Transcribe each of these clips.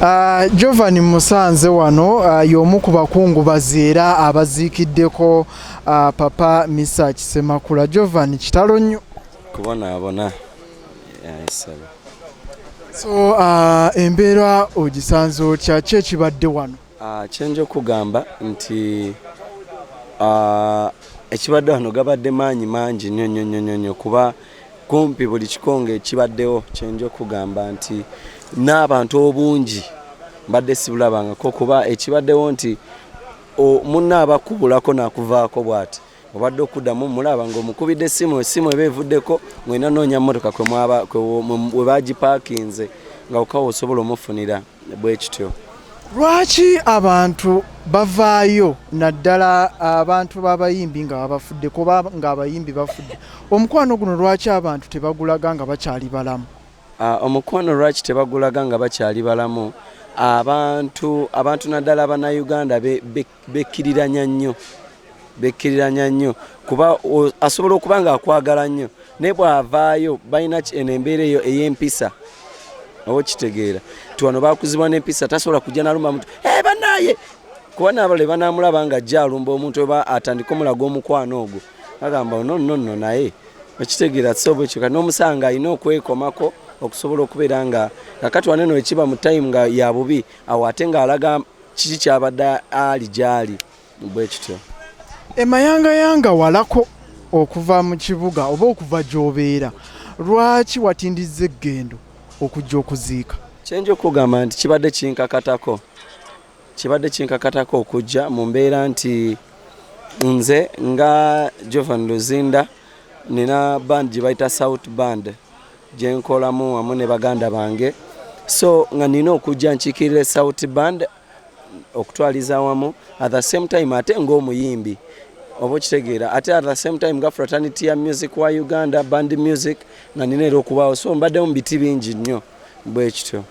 Uh, Jovan Musanze wano uh, y'omu ku bakungubazi era abaziikiddeko uh, papa Misa Kisemakula. Jovan kitalo nnyo kubonaabona yayisaba. So uh, embeera ogisanze otya ki ekibadde wano? Uh, kyenja okugamba nti uh, ekibadde wano gabadde maanyi mangi nnyo nnyo nnyo nnyo kuba kumpi buli kikonge kibaddewo kyenja okugamba nti n'abantu obungi mbadde sibulabangako kuba ekibaddewo nti munna abakubulako nakuvaako bwati obadde okuddamu mulaba ngaomukubidde essimu essimu eba evuddeko ng'olina noonya mmotoka kwe baagipakinze nga okawa osobola omufunira bwe kityo lwaki abantu bavaayo naddala abantu b'abayimbi nga babafudde kuba ng'abayimbi bafudde omukwano guno lwaki abantu tebagulaga nga bakyali balamu ah, omukwano lwaki tebagulaga nga bakyali balamu abantu abantu naddala bannayuganda bekkiriranya nnyo bekkiriranya nnyo kuba asobola okuba nga akwagala nnyo naye bw'avaayo balina eno embeera eyo ey'empisa oba okitegeera ti wano bakuzibwa n'empisa tasobola kujja nalumba muntu eh, banaye kuba naabala ebanamulaba nga ajja alumba omuntu oba atandika omulaga omukwano ogwo agamba nononno naye okitegeera tisobola ekyo kati n'omusanga alina okwekomako okusobola okubeera nga kakati waneno ekiba mu time nga yabubi awo ate ngaalaga kiki kyabadde ali gyali bwe kityo emayangayanga walako okuva mu kibuga oba okuva gy'obeera lwaki watindiza eggendo okujja okuziika kyenja okugamba nti kibadde kinkakatako kibadde kinkakatako okujja mu mbeera nti nze nga jovan luzinda nina band gye bayita south band gye nkolamu wamu ne baganda bange so nga nina okujja nkiikirira esouti band okutwaliza wamu at the same time ate ng'omuyimbi oba okitegeera ate at the same time nga fraternity ya music wa uganda band music nga nina era okubaawo so mbaddemu biti bingi nnyo bwe kityo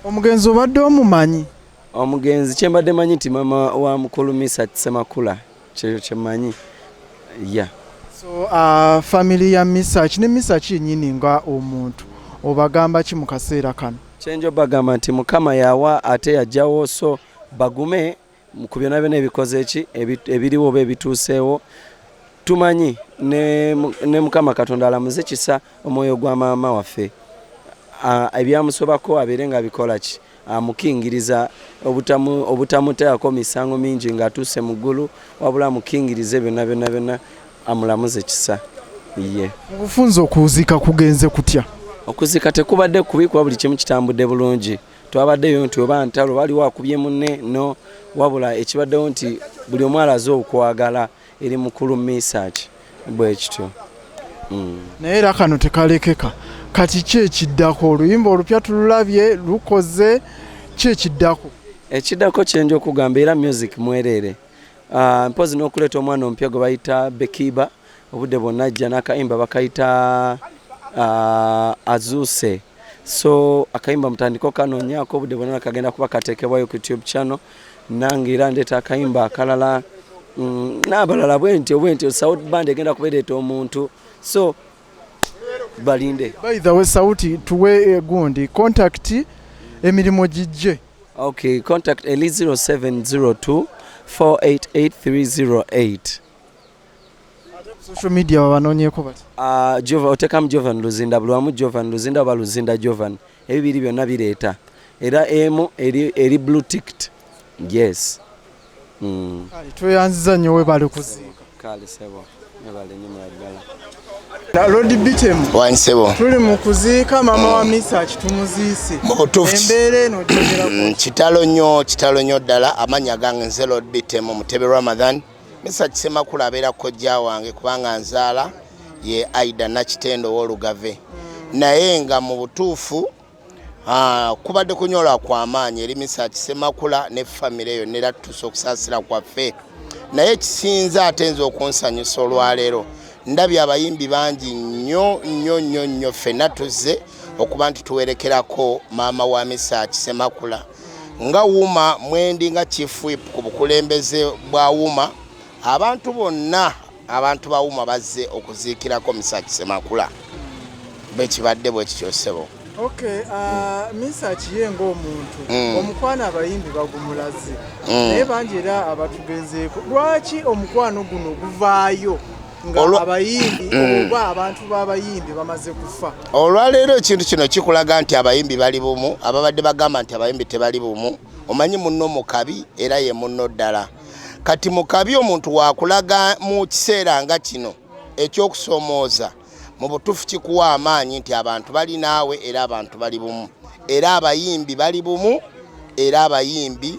omugenzi obadde omumanyi omugenzi kyembadde manyi nti mama wa mukulu misat semakula kyeyo kyemanyi ya yeah. so uh, family ya misaki ne misaki yenyini nga omuntu obagamba ki mu kaseera kano kyenjo bagamba nti mukama yawa ate yajjawo so bagume ku byona byona ebikoze eki ebiriwo oba ebituuseewo tumanyi ne, ne mukama katonda alamuze kisa omwoyo gwa maama waffe ebyamusobako abeere nga bikola ki amukingiriza obutamutaako misango mingi ng'atuuse mu ggulu wabula amukingirize byonna byonna byonna amulamuze kisa ye obufunza okuziika kugenze kutya okuziika tekubadde kubi kuba buli kimu kitambudde bulungi twabaddeyo nti oba ntalo waliwo akubye munne no wabula ekibaddewo nti buli omwalaze okwagala eri mukulu misaaki bwe kityo mm. naye era kano tekalekeka kati ki ekiddako oluyimba olupya tululabye lukoze ki ekiddako ekiddako kyenja okugamba era music mwereere ah, mpozi n'okuleeta omwana omupya gwe bayita bekiba obudde bwonna ajja n'akayimba bakayita ah, azuuse so akayimba mutandiko kanoonyako obudde bwonna nakagenda kuba kateekebwayo ku tube channel nange era ndeeta akayimba akalala mm, n'abalala bwentyo bwentyo south band egenda kubereeta omuntu so balinde by the way sauti tuwe eh, gundi contact emirimu gijje okay contact eli 0702 488308 social media wabanonyeko bati uh, ah, jova otekamu jovan luzinda buli wamu jovan luzinda oba luzinda jovan ebibiri byonna bireeta era emu eri, eri blue ticked yes mm. tweyanziza nnyo webale kuziika kale sebo webale nnyo muladdala Lord Bitemu wansebo tuli mu kuziika mama wa Misa kitumuziise embeera eno kitalo nnyo kitalo nnyo ddala amannya gange nze Lord Bitemu Mutebe Ramadan mm. misa kisemakula abeera kojja wange kubanga nzaala ye aida nakitendo wolugave naye nga mu butuufu ah, kubadde kunyola kwamaanyi eri misa kisemakula ne famire eyo nera tutuusa okusaasira kwaffe naye kisinza ate nze okunsanyusa olwaleero ndabye abayimbi bangi nnyo nnyo nnyo nnyo ffenna tuzze okuba nti tuwerekerako maama wa misa kisemakula nga wuma mwendi nga chief whip ku bukulembeze bwa wuma abantu bonna abantu ba wuma bazze okuziikirako misaki semakula bwekibadde bwekikyosebo Okay, uh, misa akiye ng'omuntu mm. omukwano abayimbi bagumulaze mm. naye bangi era abatugenzeeko lwaki omukwano guno guvaayo Mm. olwaleero ekintu kino kikulaga nti abayimbi bali bumu ababadde bagamba nti abayimbi tebali bumu omanyi munno mukabi era ye munno ddala kati mukabi omuntu wakulaga mu kiseera nga kino ekyokusomooza mu butuufu kikuwa amaanyi nti abantu bali naawe era abantu bali bumu era abayimbi bali bumu era abayimbi